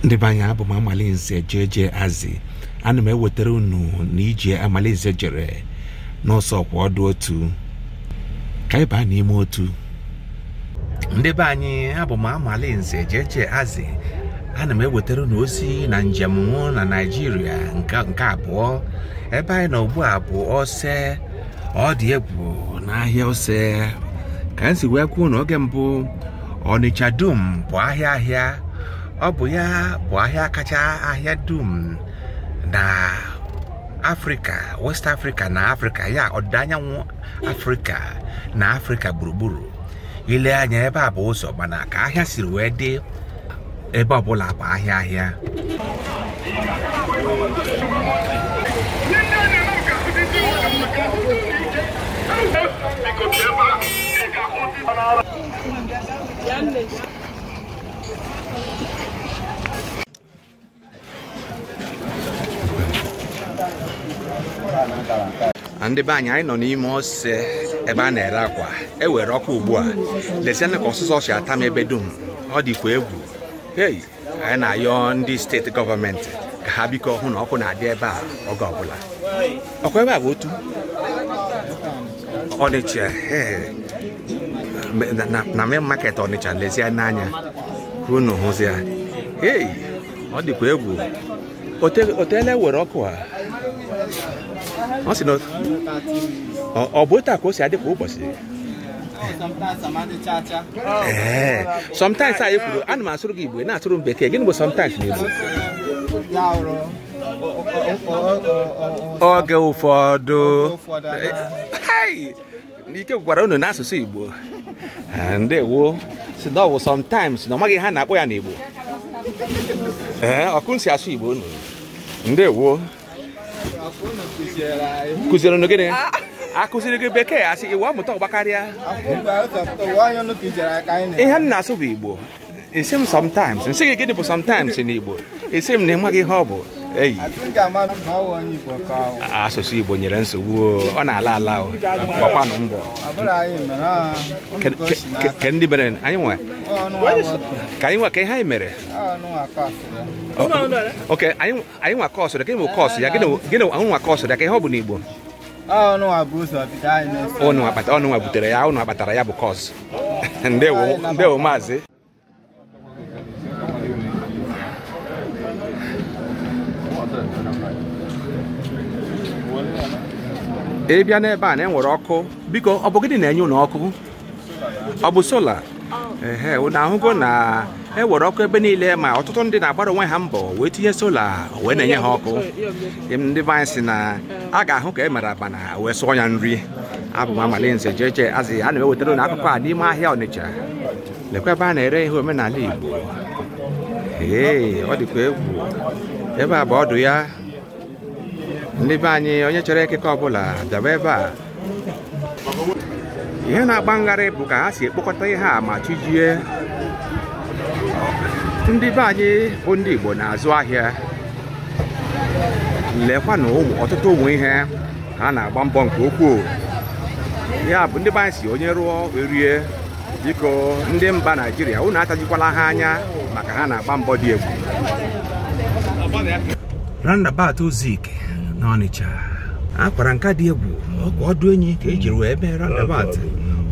ndị be anyị abụ m amalinze jeje azi ana m ewetara unu na ije amalinze jere n'ose ọkwọdụ otu ka anyị baa n'ime otu ndị be anyị abụ m amalinze jeje azi ana m ewetara unu ozi na njem mụ na naijiria nke abụọ ebe anyị nọ ugbu a bụ ose ọ dị egwu n'ahịa ose ka m si wee kwuo na oge mbụ ọnịcha dum bụ ahịa ahịa ọ bụ ya bụ ahịa kacha ahịa dum na afrịka west afrịka na afrịka ya ọdịda anyanwụ afrịka na afrịka gburugburu i lee anya ebe a bụ ụzọ mana ka ahịa siri wee dị ebe ọbụla bụ ahịa ahịa ndị be anyị anyị nọ n'ime ose ebe a na-ere akwa e were ọkụ ugbu a lezianụ ka ọsụsọ si ata m ebe dum ọ dịkwa egwu hei anyị na-ayọ ndị steeti gọọmenti ka ha biko hụ na ọkụ na-adị ebe a oge ọbụla ọkwa ebe a bụ otu ọnịcha ee. Na- na- na main market ọnịcha lezienụ anya ka unu hụzi ya ei ọ dịkwa egwu Ote- o teela e were ọkụ a ọ sị na ọ- ọ bụ otu a ka o si adị kwa ụbọchị ee sometimes anyị kwuru ana m asụrụ gị igbo ị na-asụrụ m bekee gịnị bụ sometimes n'igbo oge ụfọdụ Hey! n'ike gwụrụ unu n'asụsụ igbo Eh, ndewo sị na ọ wụ sometimes na ọ maghị ihe a na-akpọ ya n'igbo ee ọkụ si asụ igbo unu ndewo kụziere unu gịnị akụziri gị bekee asị iwu amụta ọgbakarịa ihe m na-asụ bụ igbo ị sị m sometimes m sị gị gịnị bụ sometimes n'igbo ị sị m na ị maghị ihe ọ bụ eyi asụsụ igbo nwere nsogbu o, ọ na-ala ala o gbakwanụ mbọ Ke- ke- ke ndị mere anyị nwe ka anyị nwe ka ihe anyị mere okay anyị anyị nwa kọọsụ dị ka ịmụ kọọsụ ya gịnị gịnị ahụ nwa kọọsụ dị ka ihe ọ bụ n'igbo unu nwa bu ụzọ bido anyị n'ụzọ unu kpata unu nwa butere ya unu kpatara ya bụ kọọsụ ndewo ndewo maazị ị bịa n'ebe a na e were ọkụ biko ọ bụ gịnị na-enye unu ọkụ ọ bụ sola ehe unu ahụgo na ewere ọkụ ebe niile ma ọtụtụ ndị na-agbara onwe ha mbọ wee tinye sola wee na-enye ha ọkụ ndị be anyị sị na a ga-ahụ ka e mere abana wee sụọ ya nri abụ m amalinze jeje azị ana m ewetara unu akụkọ a n'ime ahịa ọnịcha lekwa ebe a na-ere ihe omenala igbo ee ọ dịkwa egwu ebe a bụ ọdụ ya ndị be anyị onye chọrọ ekike ọbụla bịaba ebe a ihe na-agba m gharịị bụ ka ha si ekpokọta ihe a ma chi jie ndị be anyị bụ ndị Igbo na-azụ ahịa lekwanụ ọtụtụ ụmụ ihe ha na-agba mbọ nke ukwuu ya bụ ndị be anyị sị onye rụọ erie biko ndị mba naijiria unu atajikwala ha anya maka ha na-agba mbọ dị egwu roundabout Zik n'Ọnịcha akwara nka dị egwu ọkwa ọdụ enyi ka e jiri wee mee roundabout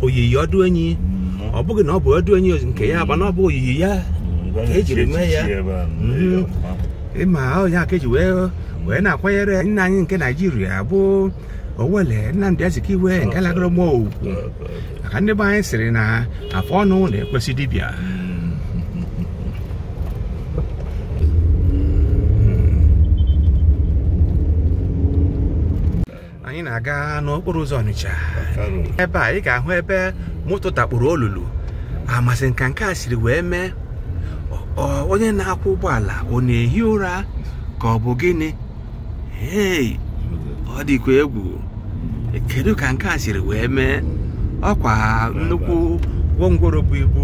oyiyi ọdụ enyi ọ bụghị na ọ bụ ọdụ enyi nke ya mba na ọ bụ oyiyi ya ka e jiri mee ya ị ma ọ bụ ya ka eji wee wee na-akwanyere nna anyị nke naijiria bụ owele nnamdi azikiwe nke lagoro mmụọ ugwu maka ndị be anyị sịrị na afọ ọnụ na-ekwesị dibịa anyị na-aga n'okporo ụzọ ọnịcha ebe a ị ga-ahụ ebe moto dakpuru olulu amazị ka nke a siri wee mee ọ- ọ- onye na-akwọ ụgbọala ọ na-ehi ụra ka ọ bụ gịnị hei ọ dịkwa egwu kedu ka nke a siri wee mee ọkwa nnukwu gwongworo bu ibu